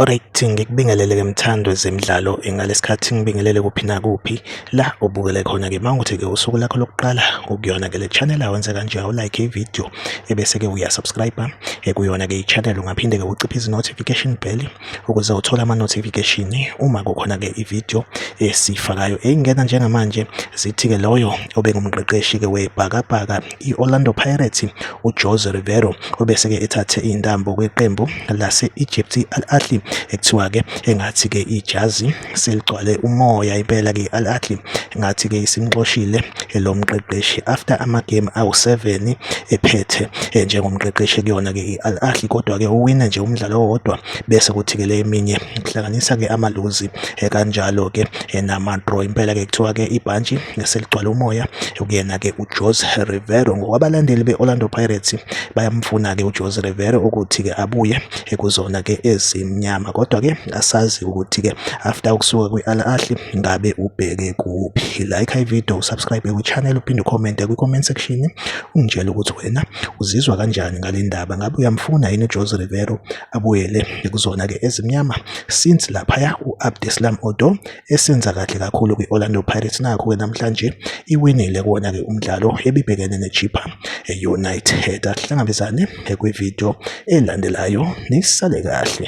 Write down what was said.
Alright ngikubingelele ke mthando zemidlalo ngalesikhathi ngibingelele kuphi nakuphi la ubukele khona ke mawuthi ke usuku lakho lokuqala ukuyona ke le channel awenze kanje awulike ivideo ebese ke uya subscribe eh, kuyona ke i-channel ungaphinde ke uciphe izi-notification bell ukuze uthole ama-notification uma kukhona ke i-video esifakayo eyingena njengamanje zithi ke loyo obengumqeqeshi ke webhakabhaka i-Orlando Pirates uJose Rivero obese ke ethathe intambo kweqembu lase-Egypt i-Al Ahly ekuthiwa ke engathi ke ijazi seligcwale umoya impela ke Al Ahly ngathi ke isimxoshile eh, lo mqeqeshi after ama game awu7 ephethe eh, njengomqeqeshi kuyona ke iAl Ahly kodwa ke uwina nje umdlalo owodwa bese kuthi ke le eminye kuhlanganisa ke amaluzi eh, kanjalo ke nama draw impela ke kuthiwa ke ibhantshi seligcwale umoya kuyena ke uJose Rivero ngokwabalandeli beOrlando Pirates bayamfuna ke uJose Rivero ukuthi ke abuye kuzona ke ezimnyama kodwa ke asazi ukuthi-ke after ukusuka kwi-al ahli ngabe ubheke kuphi like ivideo usubscribe kwichannel uphinde ucommente kwi-comment section ungitshele ukuthi wena uzizwa kanjani ngale ndaba ngabe uyamfuna yini ujose rivero abuyele kuzona-ke ezimnyama since laphaya u-abdeslam odo esenza kahle kakhulu kwi-Orlando Pirates nakho-ke namhlanje iwinile kuwona-ke umdlalo ebibhekene ne-Chippa United asihlangabezane kwividiyo elandelayo nisale kahle